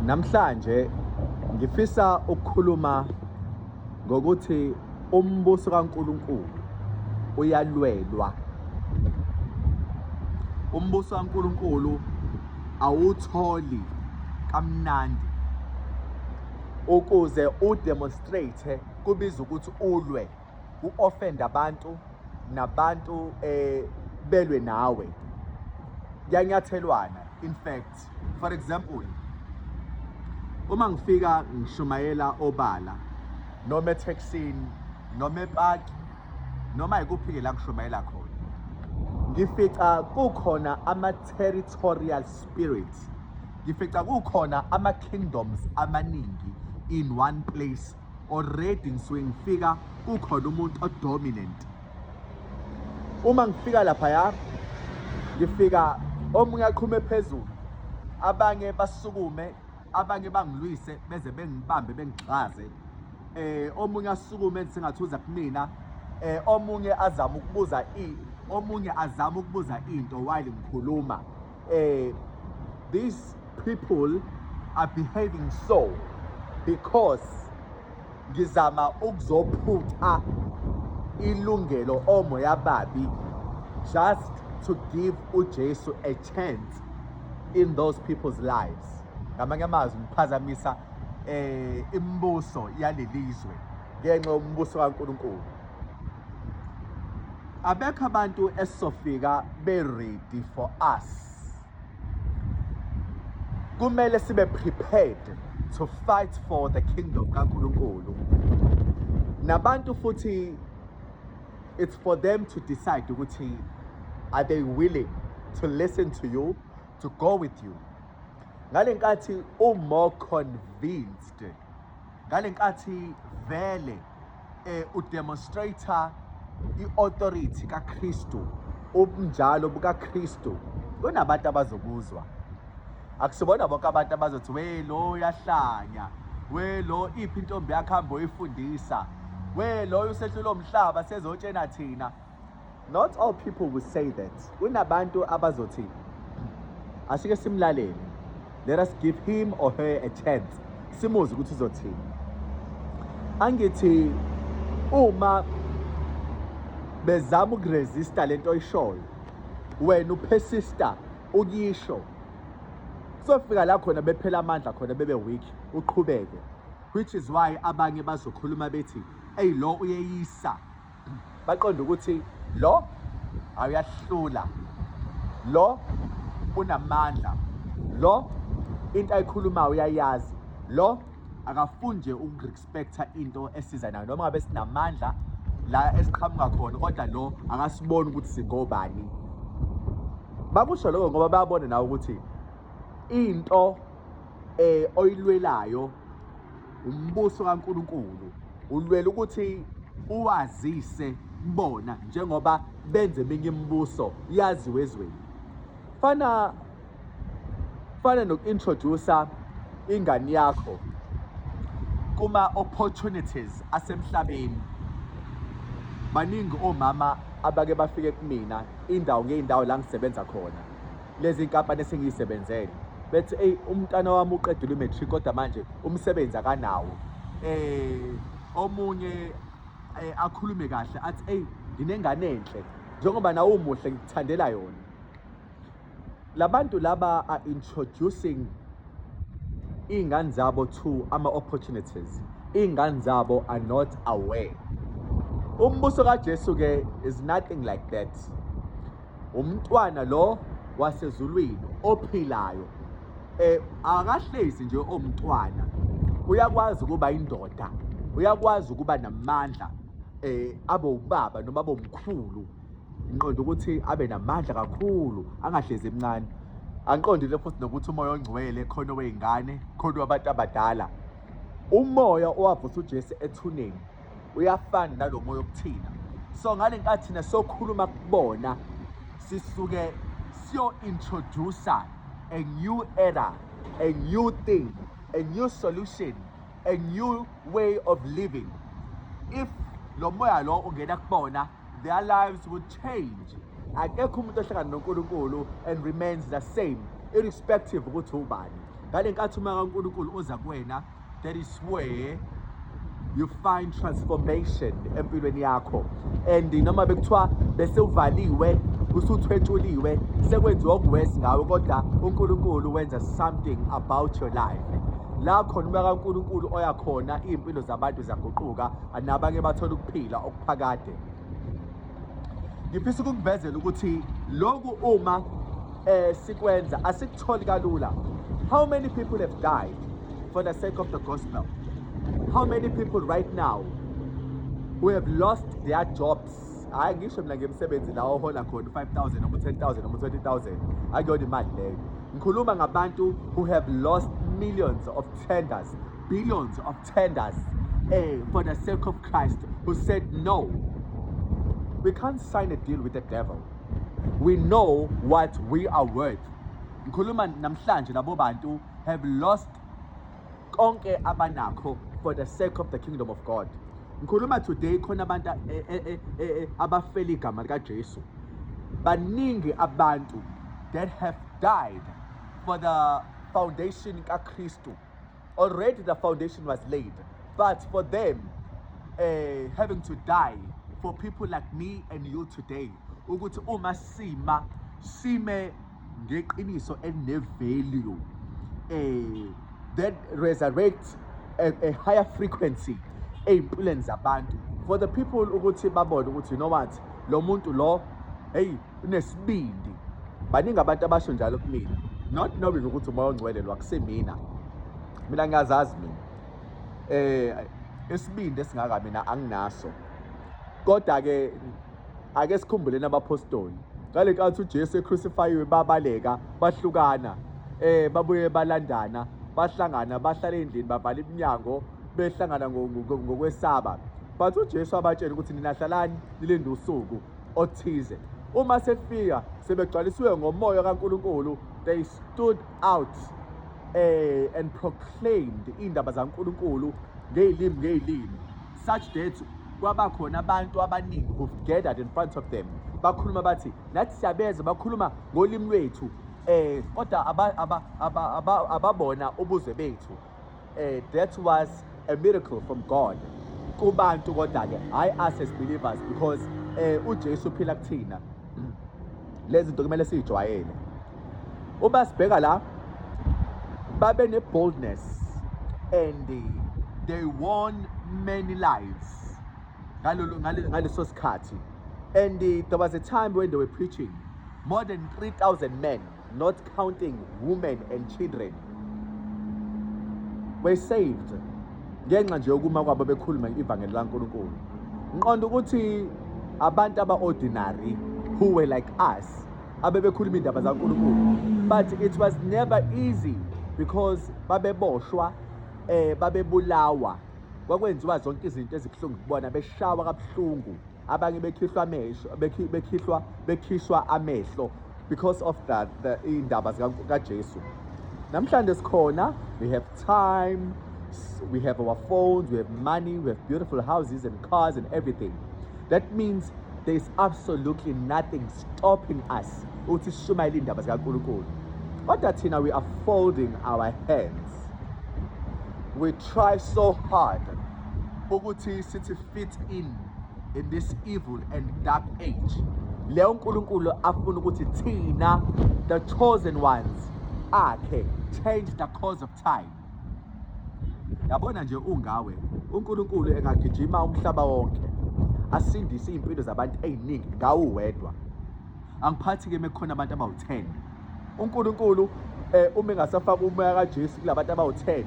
Namhlanje ngifisa ukukhuluma ngokuthi umbuso kaNkuluNkulu uyalwelwa. Umbuso kaNkuluNkulu awutholi kamnandi ukuze udemonstrate kubiza ukuthi ulwe u-offend abantu nabantu eh belwe nawe kuyanyathelwana in fact For example, uma ngifika ngishumayela obala noma ethekisini noma epaki noma yikuphi-ke la ngishumayela khona ngifica kukhona ama-territorial spirit ngifica kukhona ama-kingdoms amaningi in one place already ngisuke ngifika kukhona umuntu odominant uma ngifika laphaya ngifika omunye aqhume phezulu abanye basukume abanye bangilwise beze bengibambe bengigxaze eh omunye asukume sengathi uza kumina eh omunye azama ukubuza i omunye azama ukubuza into while ngikhuluma eh, these people are behaving so because ngizama ukuzophutha ilungelo omoya babi just to give uJesu a chance in those people's lives ngamanye amazwi ngiphazamisa eh imibuso yalelizwe ngenxa yombuso kaNkuluNkulu abekho abantu esizofika be ready for us kumele sibe prepared to fight for the kingdom kaNkuluNkulu nabantu futhi it's for them to decide ukuthi are they willing to listen to you to go with you ngale nkathi u more convinced ngale nkathi vele eh udemonstrator iauthority kaKristu ubunjalo bukaKristu kunabantu abazokuzwa akusibona bonke abantu abazothi we lo uyahlanya we lo iphi intombi yakhe hambe oyifundisa we loyo usehlula umhlaba sezotshena thina Not all people will say that. Kunabantu abazothi asike simlalele. Let us give him or her a chance. Simuzi ukuthi uzothini. Angithi uma bezama ukuresista lento oyishoyo wena upersista ukuyisho sofika la khona bephela amandla khona bebe weak uqhubeke which is why abanye bazokhuluma bethi eyi lo uyeyisa baqonde ukuthi lo awuyahlula lo unamandla lo into ayikhulumayo uyayazi lo akafuni nje ukurespecta into esiza nayo noma ngabe sinamandla la esiqhamuka khona kodwa lo akasiboni ukuthi singobani bakusho lokho ngoba bayabona nawe ukuthi into eh oyilwelayo umbuso kaNkulunkulu ulwela ukuthi uwazise bona njengoba benze eminye imibuso yaziwe ezweni fana fana noku-introducer ingane yakho kuma-opportunities asemhlabeni baningi omama abake bafike kumina indawo ngey'ndawo la ngisebenza khona lezi nkampani esengiyisebenzele bethi eyi umntana wami uqedile i-matric kodwa manje umsebenzi akanawo eh omunye eh, akhulume kahle athi eyi nginengane enhle njengoba nawe umuhle ngikuthandela yona labantu laba are introducing iy'ngane zabo to ama-opportunities iy'ngane zabo are not aware umbuso kajesu-ke is nothing like that Umntwana lo wasezulwini ophilayo eh akahlezi nje omntwana uyakwazi ukuba indoda uyakwazi ukuba namandla eh abe ubaba noma abe umkhulu inqondo ukuthi abe namandla kakhulu angahlezi emncane anqondile futhi nokuthi umoya ongcwele khona weyingane khona wabantu abadala umoya owavusa uJesu ethuneni uyafana nalo moya okuthina so ngale nkathi thina sokhuluma kubona sisuke siyo-introducer a new era a new thing a new solution a new way of living if lo moya lo ungena kubona their lives will change akekho umuntu ohlangana nonkulunkulu and remains the same irrespective ukuthi ubani ngale nkathi uma kankulunkulu uza kuwena that is where you find transformation empilweni yakho and noma bekuthiwa bese uvaliwe usuthwetshuliwe sekwenziwa okuwesi ngawe kodwa unkulunkulu wenza something about your life la khona umoya kankulunkulu oya khona iy'mpilo zabantu ziyaguquka nabanye bathola ukuphila okuphakade ngifisa ukukuvezela ukuthi lokhu uma eh sikwenza asikutholi kalula how many people have died for the sake of the gospel how many people right now who have lost their jobs hayi ngisho mina ngemsebenzi la ohola khona 5000 noma 10000 noma 20000 akuyona imali leyo ngikhuluma ngabantu who have lost millions of tenders billions of tenders uh, for the sake of Christ who said, No, we can't sign a deal with the devil. We know what we are worth. Ngikhuluma namhlanje labo bantu have lost konke abanakho for the sake of the kingdom of God. Ngikhuluma today khona abantu eh, eh, eh, abafela igama likaJesu. Baningi abantu that have died for the foundation kaKristu. already the foundation was laid but for them uh, having to die for people like me and you today ukuthi uma sima sime ngeqiniso elinevalue eh that resurrect a, a higher frequency ezimpilweni zabantu for the people ukuthi babone ukuthi you know what lo muntu lo hey unesibindi baningi abantu abasho njalo kumina not knowing ukuthi umoya ongcwelelwa kusemina mina ngiyazazi mina eh isibindi esingaka mina anginaso kodwa ke ake sikhumbuleni abaphostoli ngale nkathi uJesu ecrucified babaleka bahlukana eh babuye balandana bahlangana bahlala endlini babhala iminyango behlangana ngokwesaba but uJesu abatshela ukuthi nina hlalani nilinde usuku othize. Uma sefika sebegcwalisiwe ngomoya kaNkulunkulu, they stood out eh and proclaimed indaba zaNkulunkulu ngezilimi ngezilimi such that kwaba khona abantu abaningi who gathered in front of them bakhuluma bathi nathi siyabeza bakhuluma ngolimi lwethu eh kodwa ababona ubuzwe bethu eh that was a miracle from God kubantu kodwa ke hayi us as believers because eh uJesu uphila kuthina lezi zinto kumele sijwayele uma sibheka la babe ne boldness and they won many lives ngalolu ngaleso sikhathi and there was a time when they were preaching more than 3000 men not counting women and children were saved ngenxa nje yokuma kwabo bekhuluma ivangeli laNkulunkulu nqonda ukuthi abantu aba-ordinary who were like us abebekhuluma iy'ndaba zaNkulunkulu but it was never easy because babeboshwa um babebulawa kwakwenziwa zonke izinto ezibuhlungu kubona beshawa kabuhlungu abanye bekhihlwa amehlo bekhihlwa bekhishwa amehlo because of that the indaba zikaJesu namhlanje sikhona we have time we have our phones we have money we have beautiful houses and cars and everything that means there is absolutely nothing stopping us ukuthi sishumayele indaba zikaNkulunkulu kodwa thina we are folding our hands we try so hard ukuthi sithi fit in in this evil and dark age leyo uNkulunkulu afuna ukuthi thina the chosen ones akhe change the course of time yabona nje ungawe uNkulunkulu engagijima umhlaba wonke asindise izimpilo zabantu eziningi ngawo wedwa angiphathi ke mekukhona abantu abawu10 uNkulunkulu eh uma engasafaka umoya kaJesu kulabantu abawu10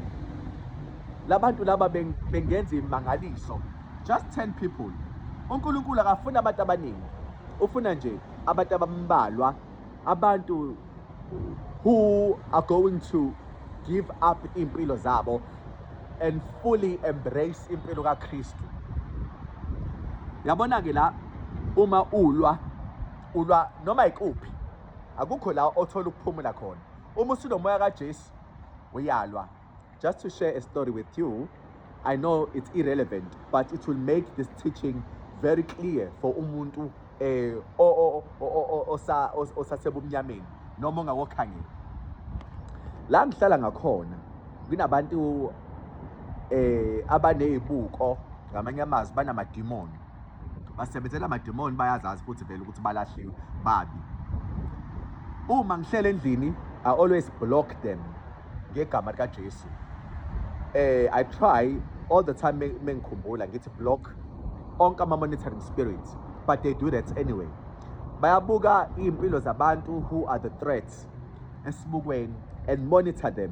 labantu laba bengenza imangaliso just 10 people uNkulunkulu akafuna abantu abaningi ufuna nje abantu abambalwa abantu who are going to give up impilo zabo and fully embrace impilo kaKristu yabona ke la uma ulwa ulwa noma ikuphi akukho la othola ukuphumula khona uma usunomoya kaJesu uyalwa just to share a story with you I know it's irrelevant but it will make this teaching very clear for umuntu eh osasebumnyameni noma ongawokhangela la ngihlala ngakhona kunabantu eh abanezibuko ngamanye amazwi banamadimoni basebenzela amademoni bayazazi futhi vele ukuthi balahliwe babi uma ngihlele endlini i always block them ngegama lika Jesu eh i try all the time mengikhumbula ngithi block onke ama monitoring spirit but they do that anyway bayabuka impilo zabantu who are the threats esibukweni and monitor them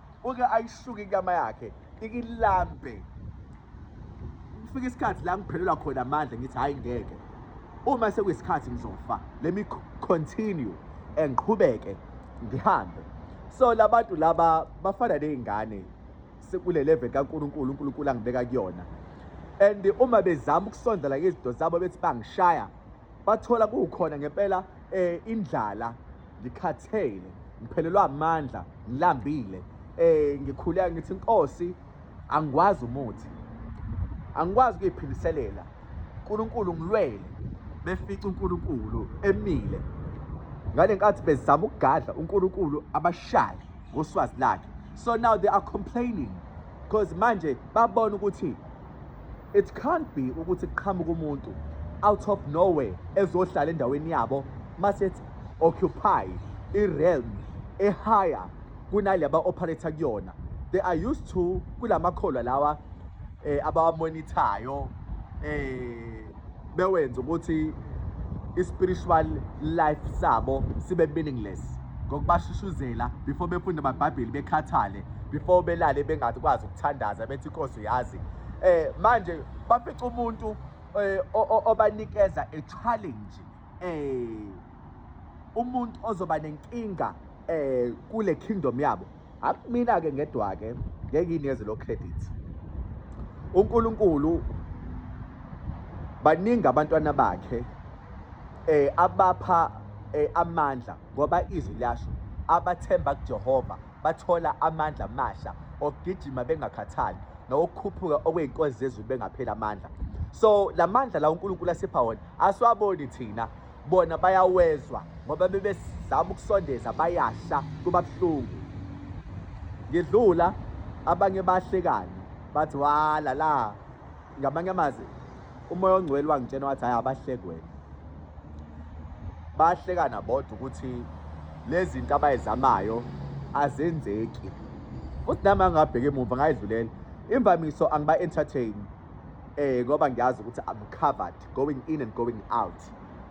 uke ayisuke inyama yakhe ikilambe kufika isikhathi la ngiphelelwa khona amandla ngithi hhayi ngeke uma sekuyisikhathi ngizofa let me continue and qhubeke ngihambe so labantu laba bafana nezingane sekule level kaNkuluNkulu uNkulunkulu angibeka kuyona and uma bezama ukusondela izinto zabo bethi bangishaya bathola kukhona ngempela eh indlala ngikhathele ngiphelelwa amandla ngilambile eh ngikhuleka ngithi inkosi angikwazi umuthi angikwazi ukuyiphindiselela uNkulunkulu ngilwele befica uNkulunkulu emile ngale nkathi bezama ukugadla uNkulunkulu abashaye ngoswazi lakhe so now they are complaining because manje babona ukuthi It can't be ukuthi kuqhamuka umuntu out of nowhere ezohlala endaweni yabo masethi occupy i-realm ehaya kunale aba-operator kuyona they are used to kula makholwa lawa eh, abawamonithayo eh, bewenza ukuthi i-spiritual life sabo sibe meaningless ngokubashushuzela before befunde amabhayibheli bekhathale before belale bengakwazi ukuthandaza bethi inkosi yazi eh manje bafica umuntu eh, obanikeza a challenge eh umuntu ozoba nenkinga eh kule kingdom yabo akumina ke ngedwa ke ngeke ineze lo credit uNkulunkulu baningi abantwana bakhe eh abapha eh, amandla ngoba izwi liyasho abathemba kuJehova bathola amandla amasha okugijima bengakhathali nokukhuphuka okwey'nkozi zezulu bengapheli amandla so la mandla la unkulunkulu asipha wona asiwaboni thina bona bayawezwa ngoba bebesizama ukusondeza bayasha kuba buhlungu ngidlula abanye bahlekani bathi wala la ngamanye amazwi umoya ongcwele wangitshena wathi hhayi abahleki wena bayahlekana bodwa ukuthi lezi zinto abayizamayo azenzeki futhi nami angingabheki emuva ngayidlulela imvamiso angiba-entertain um eh, ngoba ngiyazi ukuthi i'm covered going in and going out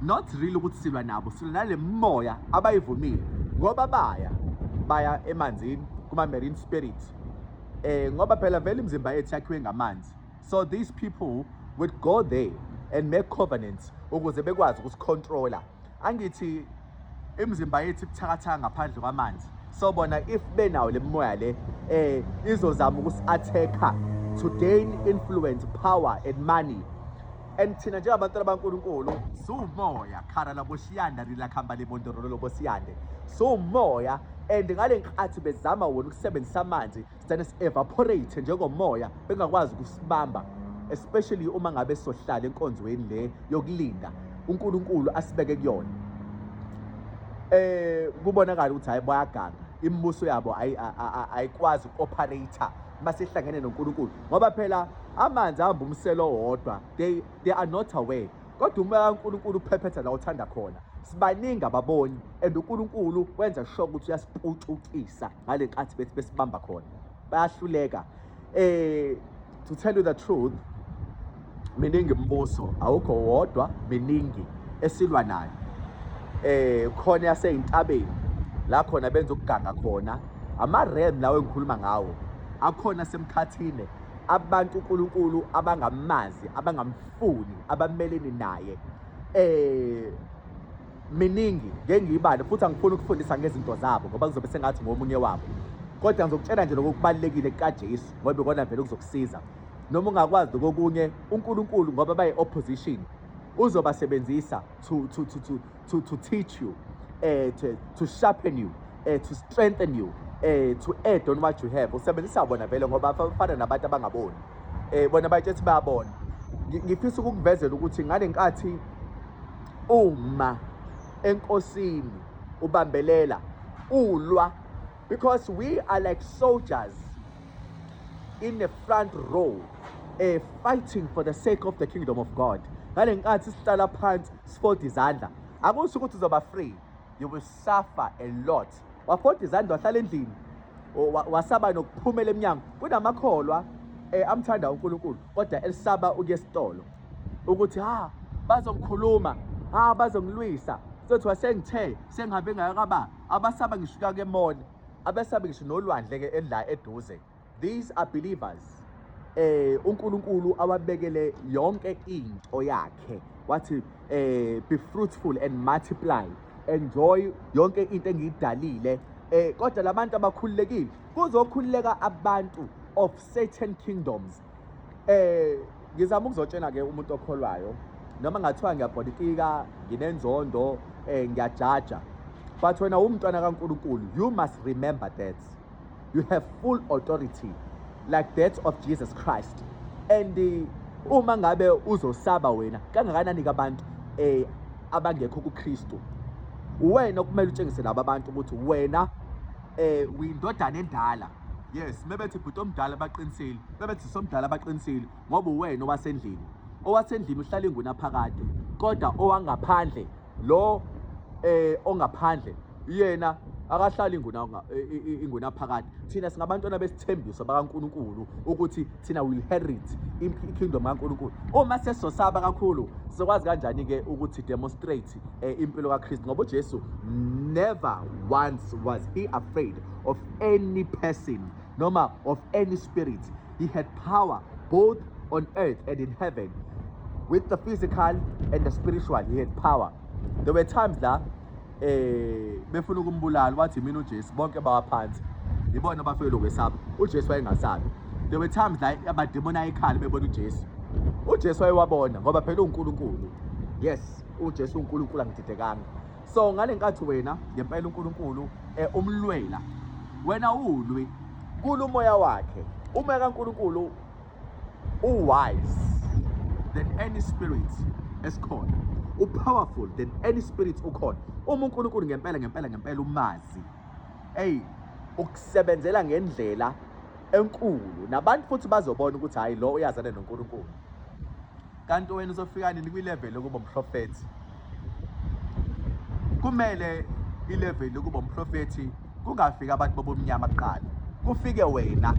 not really ukuthi silwa nabo silwa nale moya abayivumile ngoba baya baya emanzini kuma marine spirit eh ngoba phela vele imizimba yethu yakhiwe ngamanzi so these people would go there and make covenants ukuze bekwazi ukusicontrola angithi imizimba yethu ibuthakathaka ngaphandle kwamanzi so bona if benawo le mimoya le eh izozama ukusi-attack-a to gain influence power and money and thina njengabantwana bankulunkulu siwumoya khara laboshiyanda rilakhamba libondorolo lobosiyande siwumoya and ngale nkathi bezama wona ukusebenzisa amanzi sigcine si-evaporate njengomoya bengakwazi ukusibamba especially uma ngabe sohlala enkonzweni le yokulinda uNkulunkulu asibeke kuyona eh kubonakala ukuthi hayi bayaganga imibuso yabo ayikwazi uku-operator masihlangene noNkulunkulu ngoba phela amanzi ahamba umselo wodwa they, they are not aware kodwa umoya kaNkulunkulu uphephetha la uthanda khona sibaningi ababoni and uNkulunkulu wenza sure ukuthi uyasipucukisa ngale nkathi bethi besibamba khona bayahluleka eh to tell you the truth miningi imibuso awukho wodwa miningi esilwa nayo eh khona yaseyintabeni la khona benza ukuganga khona ama-ram lawo engikhuluma ngawo akhona semkhathini abantu uNkulunkulu abangamazi abangamfuni abafuni abameleni naye eh miningi ngengiyibale futhi angifuni ukufundisa ngezinto zabo ngoba kuzobe sengathi ngomunye wabo kodwa ngizokutshela nje lokho kubalulekile kukaJesu ngoba ikona vele kuzokusiza noma ungakwazi kokunye uNkulunkulu ngoba bayi opposition uzobasebenzisa to to to to to, to teach you, uh, to, to sharpen you, uh, to strengthen you, eh to add on what you have usebenzisa bona vele ngoba bafana nabantu abangaboni eh bona bathi ethi bayabona ngifisa ukukuvezela ukuthi ngale nkathi uma enkosini ubambelela ulwa because we are like soldiers in the front row uh, fighting for the sake of the kingdom of God ngale nkathi sihlala phansi sifoda izandla akusho ukuthi uzoba free you will suffer a lot wafoda izandla wahlala endlini wasaba nokuphumela emnyango kunamakholwa eh amthanda uNkulunkulu kodwa elisaba ukuya esitolo ukuthi ha bazongikhuluma ha bazongilwisa sothi wasengithe sengihambe ngayakaba abasaba ngishuka ke mona abesabi ngisho nolwandle ke endla eduze these are believers eh uNkulunkulu awabekele yonke into yakhe wathi eh be fruitful and multiply enjoy yonke into engiyidalile eh kodwa labantu abakhululekile kuzokhululeka abantu of certain kingdoms eh ngizama ukuzotshena ke umuntu okholwayo noma ngathiwa ngiyabhodikika nginenzondo eh ngiyajaja but wena umntwana kaNkuluNkulu you must remember that you have full authority like that of Jesus Christ and eh, uma ngabe uzosaba wena kangakanani kabantu eh abangekho kuKristu uwena okumele utshengise laba bantu ukuthi wena eh uyindodana endala yes mebethi bhuti omdala baqinisile mebethi somdala baqinisile ngoba uwena owasendlini owasendlini uhlala ingunaphakade kodwa owangaphandle lo eh ongaphandle yena akahlali inguna inguna phakathi thina singabantwana besithembiso bakaNkuluNkulu ukuthi thina will inherit ikingdom kaNkuluNkulu uma sesosaba kakhulu sizokwazi kanjani ke ukuthi demonstrate eh, impilo kaKristu ngoba uJesu never once was he afraid of any person noma of any spirit he had power both on earth and in heaven with the physical and the spiritual he had power there were times la eh befuna ukumbulala wathi mina uJesu bonke bawaphansi ibona abafike lokwesaba uJesu wayengasabi there were times la abademona ayekhala bebona uJesu uJesu wayewabona ngoba phela uNkulunkulu yes uJesu uNkulunkulu angididekanga so ngale nkathi wena ngempela uNkulunkulu eh, umlwela wena ulwi kulo moya wakhe uma kaNkulunkulu uwise than any spirit esikhona upowerful than any spirit ukhona uma uNkulunkulu ngempela ngempela ngempela umazi hey ukusebenzela ngendlela enkulu nabantu futhi bazobona ukuthi hayi lo uyazana noNkulunkulu kanti wena uzofika nini kwilevel yokuba umprofethi kumele ilevel yokuba umprofethi kungafiki abantu bobumnyama kuqala kufike wena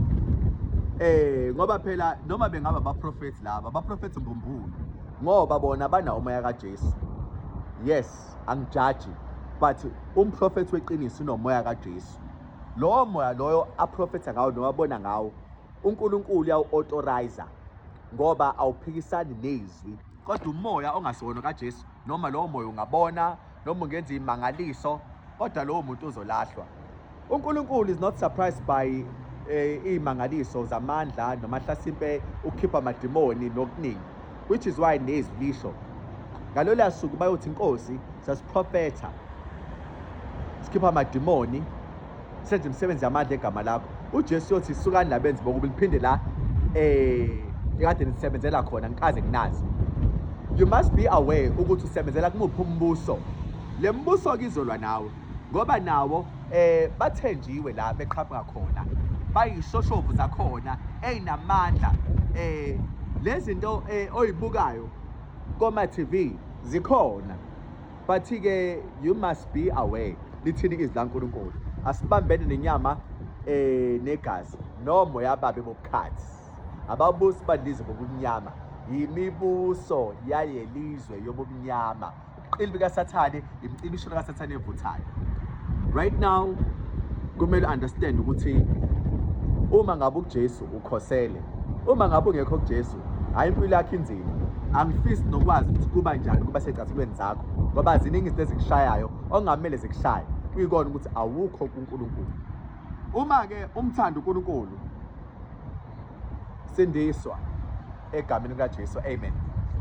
eh ngoba phela noma bengaba abaprofethi laba abaprofethi mbumbulu ngoba bona banawo umoya kaJesu yes angijaji but umprofethi weqiniso unomoya kaJesu lowo moya loyo aprofetha ngawo nowabona ngawo uNkulunkulu uyawu-authorizer ngoba awuphikisani nezwi kodwa umoya ongasona kaJesu noma lowo moya ungabona noma ungenza imangaliso kodwa lowo muntu uzolahlwa uNkulunkulu is not surprised by eh, imangaliso zamandla noma hlasimpe ukukhipha amadimoni nokuningi which is why nezwi lisho ngalolya suku bayothi inkosi sasiprofetha sikhipha amadimoni senze imisebenzi yamandla egama lakho ujesu yothi sukani labenzi bokubi liphinde la um ekade nisebenzela khona ngikaze nginazi you must be aware ukuthi usebenzela kumuphi umbuso le mbuso kizolwa nawe ngoba nawo eh bathenjiwe la beqhamuka khona bayishoshovu zakhona ezinamandla eh lezinto eh, oyibukayo koma TV zikhona Bathi-ke you must be aware lithini izwi laNkulunkulu. Asibambene nenyama eh negazi nomo yababe bobukhathi. Ababusi badlize bobumnyama yimibuso yayelizwe yobumnyama. Ubuqili bikaSathane imcibishelo kaSathane evuthayo. Right now kumele understand ukuthi uma ngabe uJesu ukhosele uma ngabe ungekho kuJesu Hhayi impilo yakho inzima. Angifisi nokwazi ukuthi kuba njani kuba secathulweni zakho ngoba ziningi izinto ezikushayayo okungamele zikushaye kuyikona ukuthi awukho kuNkulunkulu. Uma-ke umthanda uNkulunkulu sindiswa egameni likaJesu. Amen.